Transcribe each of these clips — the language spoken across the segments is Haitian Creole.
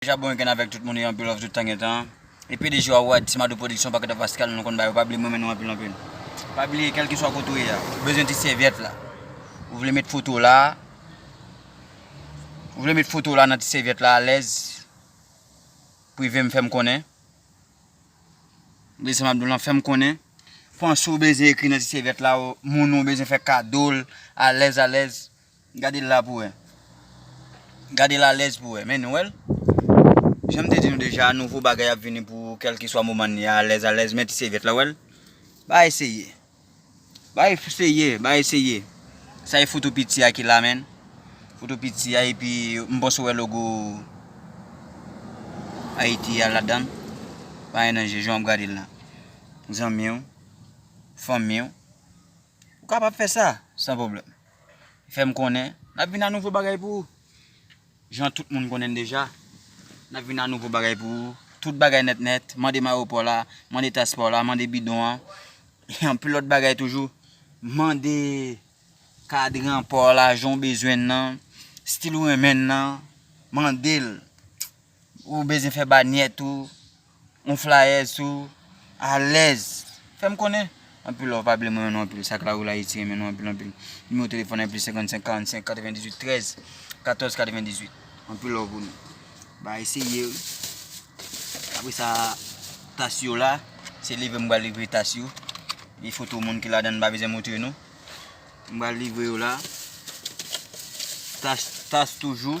Deja bon weekend avèk tout moun yo anpil love tout tan gen tan e pdg wa wad timadou production pakèt of askal nou konn ba yo pa bliye m renmen nou anpil anpil pa bliye kèlkeswa kote w ye a ou bezwen ti sèvyèt la ou vle met foto w la ou vle met foto w la nan ti sèvyèt la alèz prive m fè m konnen bliye sa m ap di w lan fè m konnen panse w bezwen ekri nan ti sèvyèt la moun ou bezwen fè kado l alèz alèz Gade l la pou wè. Gade l alèz pou wè. Men nou wè l? Jan m te di nou deja, nouvo bagay ap vini pou kèlkeswa moman n ye a, alèz alèz. Men ti sèvyèt la, wè l? Ba eseye. Ba eseye, ba eseye. Sa e foto piti a ki la menn. Foto piti a epi m panse w wè logo Ayiti a ladan l. Pa anyen danje jan w ap gade l la. Zanmi w, fanmi w. Ou kapab fè sa, san pwoblèm. Fè m konnen, n ap vin ak nouvo bagay pou ou. Jan tout moun konnen n deja, n ap vin ak nouvo bagay pou ou. Tout bagay nèt nèt, mande mayo pa w la, mande tas pa w la, mande bidon an, e anpil lòt bagay toujou. Mande kadran pa w la, jan w bezwen l lan, stil ou renmen l lan, mande l. Ou bezwen fè banyèt ou, yon flayèz sou, alèz. Fèm konnen. Anpil love pa bliye m renmen nou anpil sak la rue la Haiti renmen nou anpil anpil Numéro téléphone lan plis 55 45 98 13 14 98 anpil love pou nou ba eseye wi apre sa tas yo la se livre m pral livre tas yo gen foto moun ki ladan m pa bezwen montre nou m pral livre yo la tas tas toujou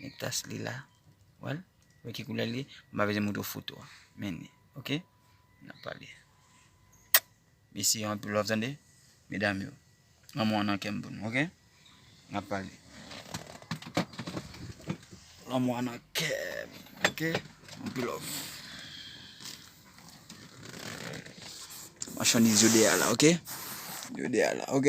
Men tas li la. Wè l? Wè ki koulè l ye? M pa bezwen montre w foto a. Men li. Ok? N ap pale. Mesi yo anpil wap tande? Medam yo. Lanmou an nan kè m pou nou. Ok? N ap pale. Lanmou an nan kè m. Ok? Anpil love. Machandiz yo deyè la. Ok? Yo deyè la. Ok?